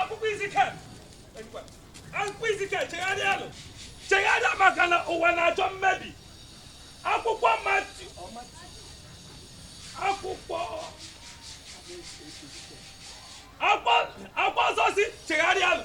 akwụkwọ izikel akwụkwọ izikel chegharịanụ chegharịa maka na ụwa na-achọ mmebi akwụkwọ matiu akwụkwọ akwụkwọ nsọ sị chegharịanụ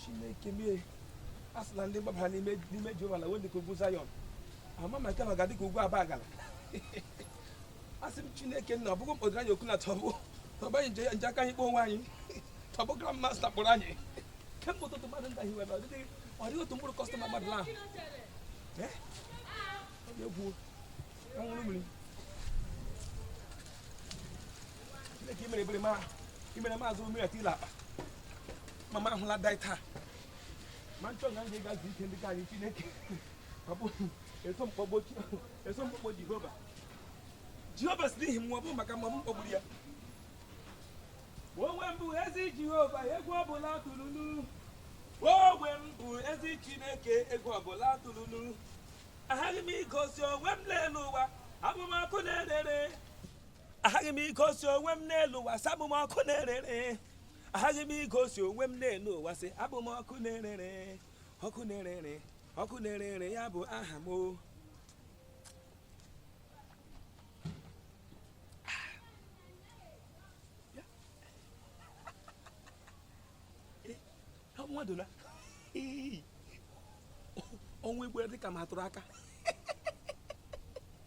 chineke m ee a sị na ndị gbabara n'ime n'ime jehova na we ndị ka ugwu zayọn ama ma nke na ọ ga-adị ka ugwu abagana a sị m chineke nna ọ bụ gị mkpọdụrụ anyị oku na ta ọ bụ ta ọ bụ anyị nji nji aka anyị kpọọ onwe anyị ta ọ bụ grand master kpọrọ anyị kemgbe ụtụtụ mmadụ ndị ahụ were ọ dịghị ọ dịghị otu mkpụrụ customer mmadụ ahụ Eh? Ọ dị egwu anwụrụ mmiri imere maazị mmiri ati ile akpa mama ahụla dai taa ma nchọ na ndị gazi ike ndị ka anyị chineke eso m kpọkuo jehova jehova sị n'ihi m ọ bụ maka mma m kpọkuru ya onwe m bụ ezi jehova egwu ọbụla atụla unu onwe m bụ ezi chineke egwu ọbụla atụla unu aghaghị m igosi onwe m n'elu ụwa abụ m ọkụ na-erere aghaghị m igosi onwe m n'elu ụwa sị abụ m ọkụ na-erere aghaghị m igosi onwe m n'elu ụwa sị abụ m ọkụ na-erere ọkụ na-erere ọkụ na-erere ya bụ aha m o Ọ bụ mmadụ na Ii. ọnwa igwe dị ka m atụrụ aka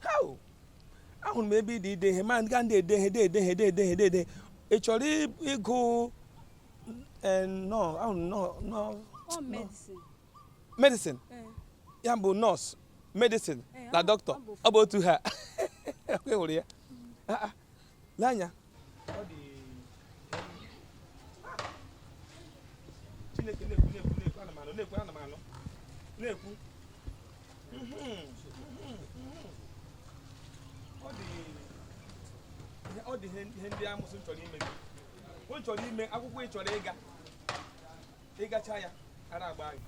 hau ahụrụ m ebe ị dị ide ihe ma ga ndị ede ihe de ede ihe de ede ihe de ede ihe. ị chọrọ ị- ịgụ eh, nọ ahụrụ m nọ nọ Ọ medicine. medicine Eh, ya bụ nurse medicine eh, na ọ- doctor ọ bụ ọ bụ otu ha kwuru ya Ah, ah. lee anya Chineke na-ekwu na-ekwu na-ekwu ana m anụ na-ekwu ana m anụ na-ekwu ọ dị ọ dị ihe ndị amụsụ chọrọ ime gị o chọrọ ime akwụkwọ ị chọrọ ịga ị gachaa ya ara agba gị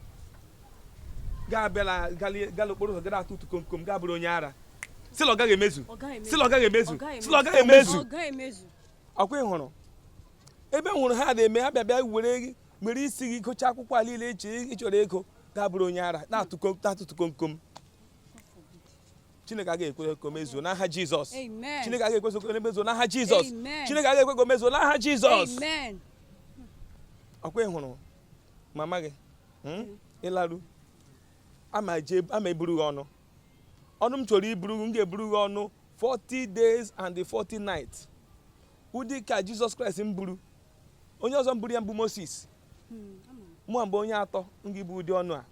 ga-abịala gala okporo ụzọ gada atụtụ komkom ga-abụrụ onye ara sịla ọ gaghị emezu sịla ọ gaghị emezu sịla ọ gaghị emezu ọ kwa ị hụrụ ebe m hụrụ ha na-eme ha bịa bịa were were isi gị gocha akwụkwọ a niile eche ị chọrọ ịgụ ga-abụrụ onye ara na-atụtụ komkom chineke agaghị ekwe ka o mezuo n'aha jizọs Amen. chineke agaghị ekwe ka o mezuo n'aha jizọs Amen. chineke agaghị ekwe ka o mezuo n'aha jizọs Amen. ọkwa ị hụrụ mama gị hmm? ị laru ama je- ama eburu gị ọnụ ọnụ m chọrọ iburu gị m ga-eburu gị ọnụ 40 days and the 40 nights ụdị ka jizọs kraịst mburu onye ọzọ mburu ya mbụ moses mụ mbụ onye atọ m ga-ebu ụdị ọnụ a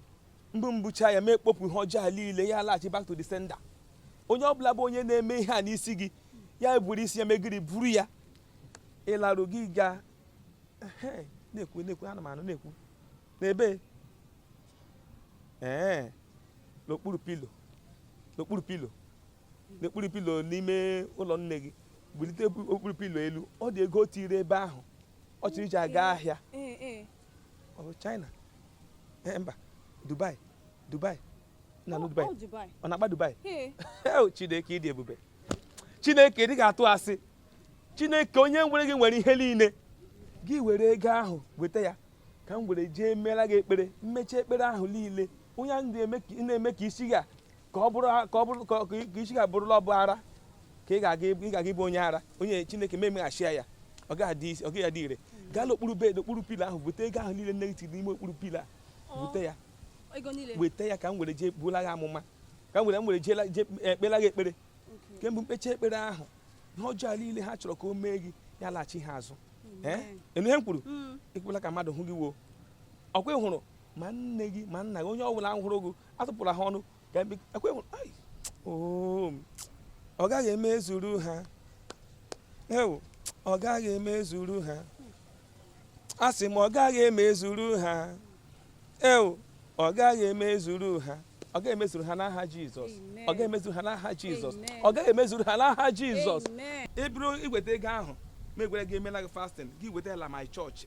m bu m bucha ya ma ekpopụ ihe ọjọọ a niile ya laghachi back to the sender onye ọ bụla bụ onye na-eme ihe a n'isi gị ya buru isi ya megiri buru ya ị larụ gị gaa na-ekwu na-ekwu ana m anụ na-ekwu n'ebe ee n'okpuru pilo n'okpuru pilo n'okpuru pilo n'ime ụlọ nne gị bulite okpuru pilo elu ọ dị ego o tiri ebe ahụ ọ chọrọ iji aga ahịa Oh, China eh, mba Dubai Dubai na oh, Dubai oh, ọ na-akpa Dubai oh, Chineke ị dị ebube Chineke adịghị atụ asị Chineke onye nwere gị nwere ihe niile gị were ego ahụ weta ya ka m were jee meela gị ekpere m mecha ekpere ahụ niile onye na-eme ka isi gị ka ọ bụrụ ka isi gị abụrụla ọbụ ara ka ị ga-aga ịbụ- ị ga-aga ịbụ onye ara onye chineke ma emeghachia ya ọ gaghị adị isi- ọ gaghị adị ire gaa n'okpuru bed okpuru pilo ahụ bute ego ahụ niile nne gị tiri n'ime okpuru pilo a bute ya ego niile weta ya ka m were jee buola gị amụma ka m were m were jeela jee kpeela gị ekpere Okay. kemgbe m kpecha ekpere ahụ ihe ọjọọ niile ha chọrọ ka o mee gị ya laghachi ha azụ ee Amen. ị nụ ihe m kwuru Mm. ekwela ka mmadụ hụ gị woo ọkwa ị hụrụ ma nne gị ma nna gị onye ọ bụla hụrụ gị atụpụla ha ọnụ Ka mbe- ekwe m- ai, oo, ọ gaghị emezuru ha ewu ọ gaghị emezuru ha a sị m ọ gaghị emezuru ha ewu ọ gaghị emezuru ha ọ gaghị emezuru ha n'aha jizọs Amen. ọ gaghị emezuru ha n'aha jizọs Amen. ọ gaghị emezuru ha n'aha jizọs Amen. ị bụrụ i weta ego ahụ ma egwere gị emela gị fasting gị wetala m ya church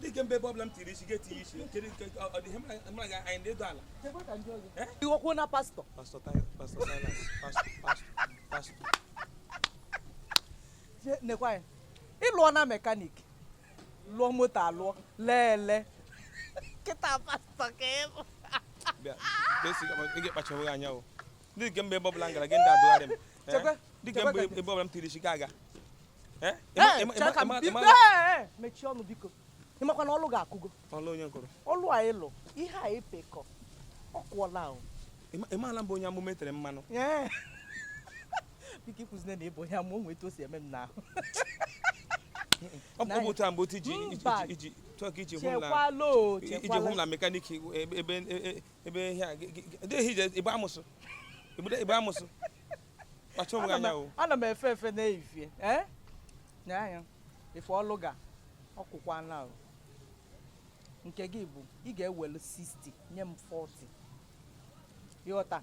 dịka mbe ebe ọbụla m tiri isi gị etinye isi kedu nke ọ dị ihe mụ na gị anyị na-adọ ala iwokwu na pastọ pastọ pastọ silas pastọ pastọ nekwa ya ị lụọ na mekanik lụọ moto alụọ lee ele kịta pastọ ka ị bụ bịa ka esi ị ga-ekpachaghị anya o dịka mbe ebe ọbụla m gara gị ndị adụgharị m Eh? Chekwe, ndị nke chekwe mgbe ka- ebe ọbụla m tiri isi gị aga Eh? Ee, Ịma- ịma- chere ka m ịma- biko, ịma- ee, ee, mechie ọnụ biko ị makwa na ọlụ gị akụgo ọla onye nkụrụ ọlụ a ịlụ ihe a ịpekọ ọ kwụọla o Ịma- ị maala m bụ onye amụma e tere mmanụ Ee. biko ikwuzine na ị bụ onye amụma o nwe etu o si eme m n'ahụ ọ bụ taa mgbe otu iji iji- Mba. iji chọọ ka iji hụ m na chekwala o iji hụ m chekwala na mekanik ebe ebe e- ebe ihe a gị- gị- gị- dịghị ije igbe amụsụ Igbe- igbe amụsụ kpacha onwe gị anya o ana m efe efe n'efifie ee nye anya ife ọlụ ga ọkwụkwana o nke gị bụ ị ga-ewelu 60 nye m 40 ị ghọta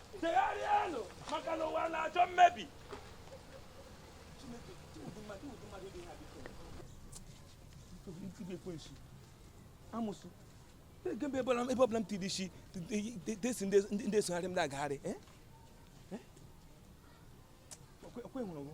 chegharịanụ maka na ụwa na-achọ mmebi amụsụ ebe ọbụla m tiri isi desi ndị esogharị m na-agagharị eh? Eh? okwe hụrụ gụ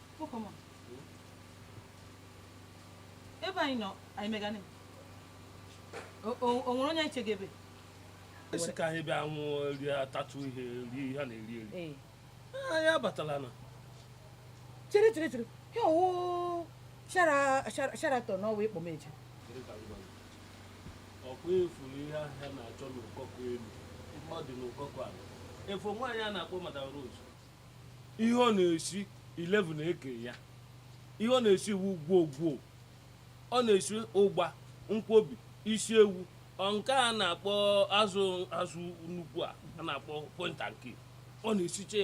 ebe anyị nọ anyị megane o nwere onye eche gị ebe a sị ka anyị bịa nwụ rie atatụ ihe rie ihe a na-eri eri eh. ah, anyị abatala na chere chere chere ya ọ wụ Sheraton na ọwa ị kpọ m eje ọkwa ị fụrụ ihe ahị a na-achọ n'ụkọkọ elu ọ dị n'ụkọkọ ala ị fụ nwaanyị a na-akpọ madam rose ihe ọ na-esi 11 eke ya ihe ọ na-esi iwu ngwọngwọ ọ na-esi ụgba nkwobi isi ewu nke a na-akpọ azụ azụ nnukwu a a na-akpọ point and kill ọ na-esiche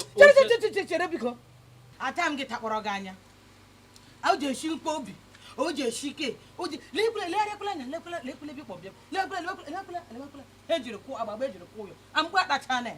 chere chere biko ata m gị takpọrọ gị anya o ji esi nkwobi o ji esi ike o ji lekwula lekwula anya lekwula lekwula bịa kpọbịa lekwula lekwula lekwula ejiri kwụ agbagba ejiri kwụ ụyọ amgbe akpacha na ya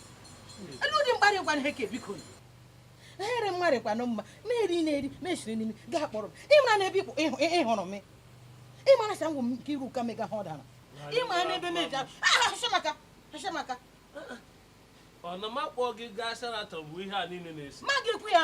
elee ụdị mkparị kwa ihe ka biko ehere mmadụ kwanụ mma na-eri na-eri na-esiri n'imi gaa kpọrọ m ịmara na ebe ịhụrụ m ịmara sa ngwụ m nke iru ụka mega ha ọ dara ịmara na ebe m eji ahụ maka maka ọ na m akpọ gị gaa Sheraton bụ ihe a niile na-esi ma gị kwu ya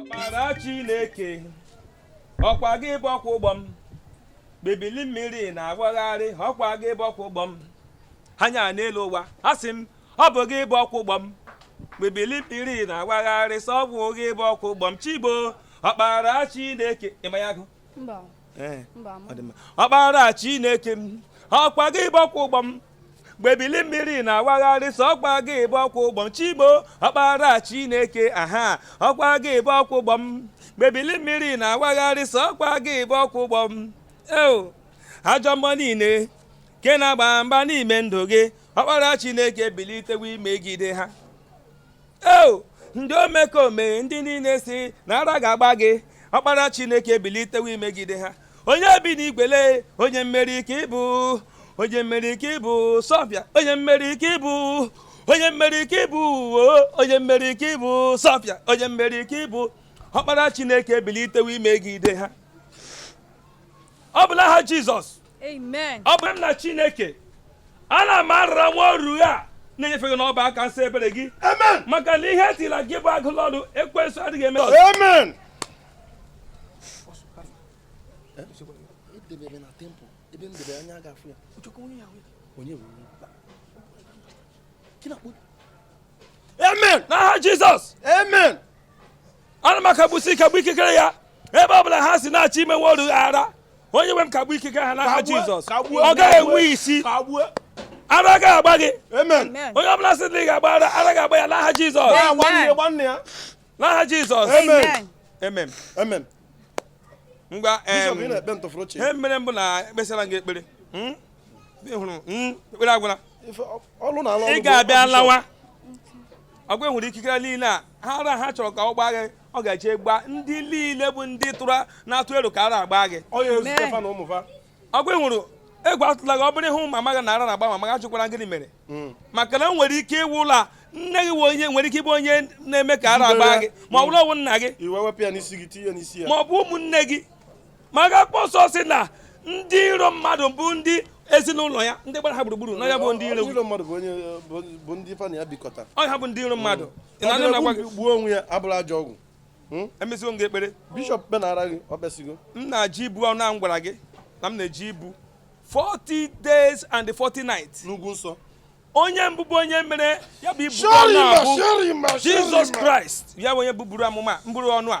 ọkpara chineke ọkwa gị bụkwa ụgbọ m ebili mmiri na-agbagharị ọkwa gị bụkwa ụgbọ m anya n'elu ụwa asị m ọ bụ gị bụ ọkwa ụgbọ m mgbe ebili mmiri na-awagharị sọ ọ bụ gị bụ ọkwa ụgbọ m chibo ọkpara chineke ị ma ya agụ Mba. Ee, Mba. ọ dị mma. ọkpara chineke m ọkwa gị bụ ọkwa ụgbọ m mgbe ebili mmiri na-awagharị sọkwa gị bụ ọkwa ụgbọ m chibo ọkpara chineke aha ọkwa gị bụ ọkwa ụgbọ m mgbe ebili mmiri na-awagharị sọkwa gị bụ ọkwa ụgbọ m eo ajọ mmụọ niile nke na-agba mgba n'ime ndụ gị ọkpara chineke bilitewo imegide ha eo ndị omekome ndị niile si na ara ga-agba gị ọkpara chineke bilitewo imegide ha onye bi n'igwele onye mmeri ka ịbụ onye mmeri ka ịbụ sọbịa onye mmeri ka ịbụ onye mmeri ka ịbụ onye mmeri ka ịbụ sọbịa onye mmeri ka ịbụ ọkpara chineke bilitewo imegide ha ọ bụ n'aha jizọs ọ bụ nna chineke ana m arara nwa oru a na-enyefe gị n'ọbụ aka nsọ ebere gị maka na ihe etila gị bụ agụlụ ọnụ ekwensu adịghị eme amen amen n'aha jizọs amen ana m akagbusi kagbu ikikere ya ebe ọ bụla ha si na-achọ ime nwa oru ara onye nwe m kagbu ikike ha n'aha jizọs ọ gaghị enwe isi ara agaghị agba gị onye ọ bụla sị na ị ga-agba ara ara ga-agba ya n'aha jizọs n'aha jizọs amen amen ngwa ihe mere bụ na ekpesịla gị ekpere hmm? Hmm? ekpere agwụla ị ga-abịa lawa ọgwa enwere ikikere niile a ha ara ha chọrọ ka ọ gbaa gị ọ ga-eje gbaa ndị niile bụ ndị tụrụ na-atụ elo ka ara agba gị ọgwa enwere egwu atụla gị ọ bụrụ ị hụ mama gị na ara na-agba mama gị ajụkwara gịnị mere hmm. maka na o nwere ike ịwụ na nne gị onye nwere ike ịbụ onye na-eme ka ara agba gị ma ọ bụrụ ọ wụ nna gị ma ọ bụ ụmụnne gị maka akwụkwọ nsọ sị na ndị iro mmadụ bụ ndị ezinụlọ ya ndị gbara ha gburugburu na ha bụ ndị iro iro mmadụ bụ onye bụ ndị fa na ya bikọta ọ ha bụ ndị iro mmadụ ị na-anụ na gwa gị gbuo onwe ya abụrụ ajọ ọgwụ hmm? emesigo m gị ekpere bishọp kpenara gị ọ kpesigo m na-eje ibu ọnụ ahụ m gwara gị na m na-eje ibu 40 days and 40 nights n'ugwu nsọ onye mbụ bụ onye mere ya bụ ibu ọnụ ahụ Jizọs Kraịst ya bụ onye buburu amụma mbụrụ ọnụ a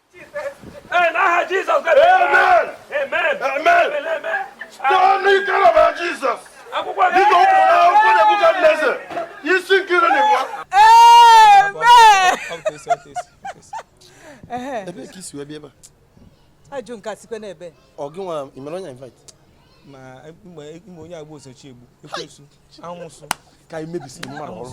ebee ka i si wee bịa ebe a ajụ nke asikwe n'ebe ọ gị nwara imere onye invite ma mgbe onye agba osochi egbu ekwensu amụsụ ka anyị mebisiri mmadụ ọrụ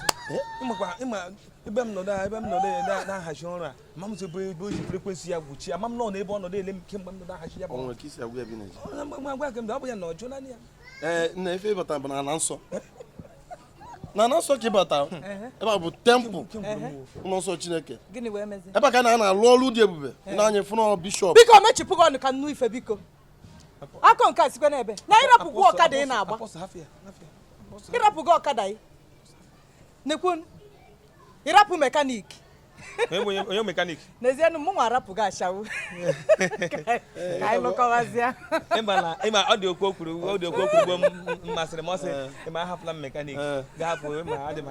ị makwa ị ma ebe m nọdụ ebe m nọdụ na-ahachi ọrụ ama m ebe ebe o ji frekwensị ya gwụchi ama m nọ n'ebe ọ nọdụ ele m kemgbe m nọdụ ahachi ya bụ ọrụ ka isi agwa ya bi na ji agwa gị mgbe ọ bụ ya na ọjụ naanị ya ee na ife ị bata bụ n'ala nsọ n'ala nsọ ka ị bata ebe a bụ tempụl ụlọ nsọ chineke ebe a ka na a na-alụ ọrụ dị ebube na anyị fụnọ bishọp biko mechipụ gị ọnụ ka m nụ ife biko akọ nke a sikwa n'ebe na ị rapụgo ọkada ị na-agba ị rapụgo ọkada ị nekwa ị rapụ mekanik onye mekanik n'ezie na mụnwa arapụgo ashawo ka anyị lụkọwazịa ị ma ọ dị okwu o kwuru ọ dị okwu o kwuru masịrị m ọ sị ị ma ahapụla m mekanik ga-ahapụ ma adị m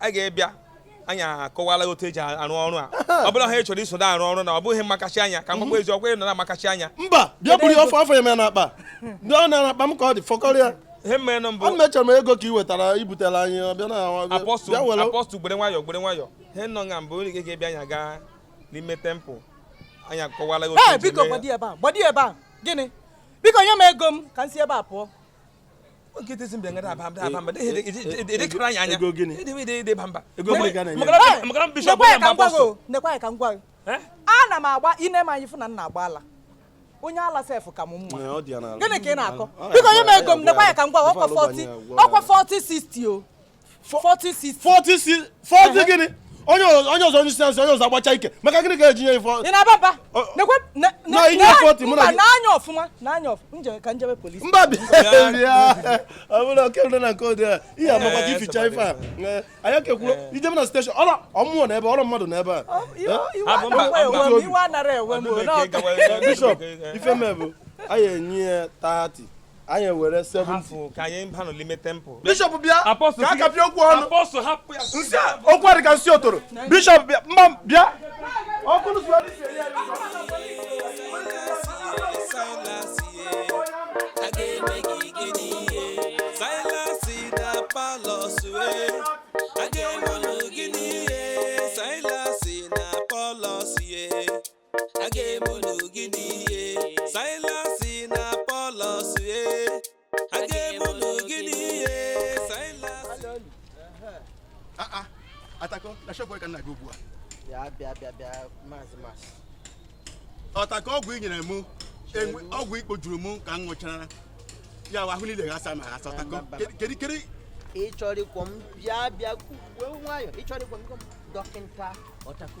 a ga-ebịa anyị akọwala otu e ji arụ ọrụ a ọ bụla ha chọrọ iso arụ ọrụ na ọ bụghị makachi anya ka mgbagba eziokwu ị nọ na makachi anya mba bịa buru ọfọ afọ ya n'akpa ndị ọ n'akpa m ka ọ dị fọkọrọ ya ihe mmenụ mbụ ana echọrọ m ego ka ị wetara i butela anyị ọbịa na apọstụl gbere nwayọ gbere nwayọ ihe nọ nga mbụ ị ga-ebịa anyị agaa n'ime tempụl anyị akọwala otu biko gbadi ebe a gbadi ebe a gịnị biko nye m ego m ka m si ebe a pụọ ana m agba i ne m anya fụ na m na-agba ala onye ala sef ka m mma gịnị ka ị na-akọ biko nye m ego m nekwa ya ka m gwa ọkwa 40 ọkwa 40 60 o 40 40 40 gịnị onye onye ọzọ onye siyansi onye ọzọ agbacha ike maka gịnị ka e ji nye ife ị na-aba mba nekwa na i nye 40 mụ na gị n'anya ọfụma n'anya ọfụma m je ka m jebe polisi mba bịa ọ bụrụ oke nọ na nke ụdị a ihe amakwa gị ficha ife a anyị kekwuru ije m na steshọn ọrụ ọmụọ na ebe ọrụ mmadụ na ebe a iwe anara ewe m bishọp ife mebụ anyị enye ya 30 anyị ewere 70 hapụ ka anyị banụ n'ime tempụl bishọp bịa Apostle, ka a kapịa okwu ọnụ Apostle, hapụ ya. nsị a okwu adị ka nsị otoro bishọp bịa mba bịa ọkụ n'ụzọ ya dị isi eri eri. a ga-eme unu gịnị ihe silasị na pọlọs e a ga-eme unu gịnị ihe silasị aa atako na shop ka nna gị ugbu a bịa bịa bịa bịa maazị masị ọtaka ọgwụ i nyere mụnwa ọgwụ ikpo juru mụ ka m ṅụchara ya wa ahụ niile ghasa m aghasa ọtako kedu kedu ị chọrọ igbu m bịa bịa were nwayọ ị chọrọ igbu m igbu m dọkịta ọtaku